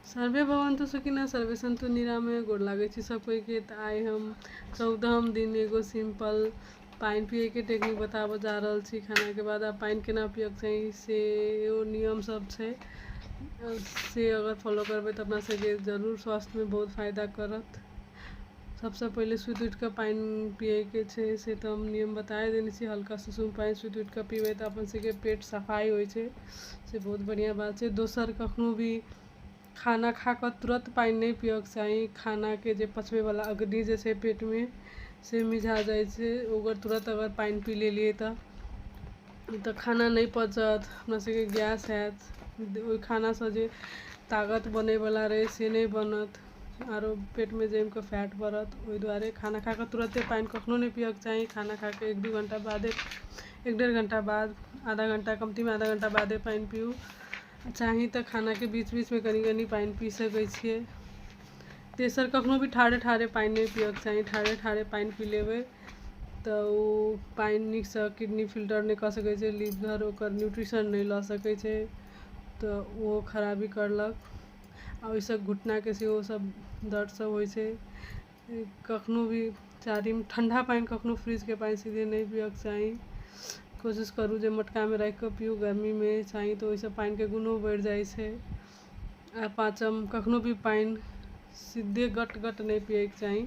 survey भवन्तु सुखिनः सर्वे सन्तु निरामय गोर लागै छी सब कोइके तऽ आइ हम चौदहम दिन एगो सिंपल पानि पियैके टेक्निक बताबऽ जा रहल छी खानाके बाद आब पानि केना पियैके चाही से एगो नियम सब छै से अगर फॉलो करबै तऽ अपना सबके जरूर स्वास्थ्यमे बहुत फायदा करत सभसँ पहिले सुति उठिके पानि पियैके छै से तऽ हम नियम बताये देने छी हल्का सुसुम पानि सुति उठिके पिबै तऽ अपन सभके पेट सफाइ होइ छै से बहुत बढ़िऑं बात छै दोसर कखनो भी खाना खाके तुरत पानि नहि पियैके चाही खानाके जे पचबै बला अग्नि जे छै पेटमे से मिझा जाइ छै ओकर तुरत अगर पानि पी लेलियै तऽ नहि तऽ खाना नहि पचत हमरा सभके गैस होयत ओहि खाना से जे तागत बनै बला रहै से नहि बनत आरो पेटमे जमि कऽ फैट बढ़त ओहि दुआरे खाना खा कऽ तुरते पानि कखनो नहि पियैके चाही खाना खा कऽ एक दू घण्टा बादे एक डेढ़ घण्टा बाद आधा घण्टा कमतीमे आधा घण्टा बादे पानि पीयू चाही तऽ खानाके बीच बीचमे कनी कनी पानि पी सकै छियै तेसर कखनो भी ठाढ़े ठाढ़े पानि नहि पियैके चाही ठाढ़े ठाढ़े पानि पी लेबै तऽ ओ पानि नीकसँ किडनी फिल्टर नहि कऽ सकै छै लीवर ओकर न्यूट्रिशन नहि लऽ सकै छै तऽ ओ खराबी करलक आ ओहिसँ घुटनाके सेहो सभ दर्द सभ होइ छै कखनो भी चारिम ठण्डा पानि कखनो फ्रिजके पानि सीधे नहि पियैके चाही कोशिश करू जे मटकामे राखिके पिउ गर्मीमे चाही तऽ ओहिसँ पानिके गुणो बढ़ि जाइ छै आ पाँचम कखनो भी पानि सीधे गट गट नहि पियैके चाही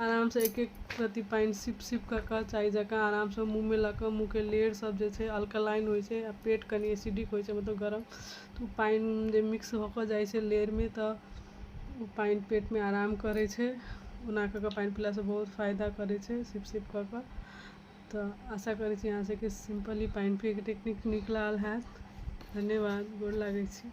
आरामसँ एक एक रत्ती पानि सिप सिप कऽ कऽ चाय जकाँ आरामसँ मुँहमे लऽ कऽ मुँहके लेयर सभ जे छै अल्कलाइन होइ छै आ पेट कनि एसिडिक होइ छै मतलब गरम तऽ ओ पानि जे मिक्स भऽ कऽ जाइ छै लेरमे तऽ ओ पानि पेटमे आराम करै छै ओना कऽ कऽ पानि पीलासँ बहुत फायदा करै छै सिप सिप कऽ कऽ तऽ आशा करै छी अहाँसभके सिम्पल ई पानि पियैके टेक्निक नीक लागल हैत धन्यवाद गोर लागै छी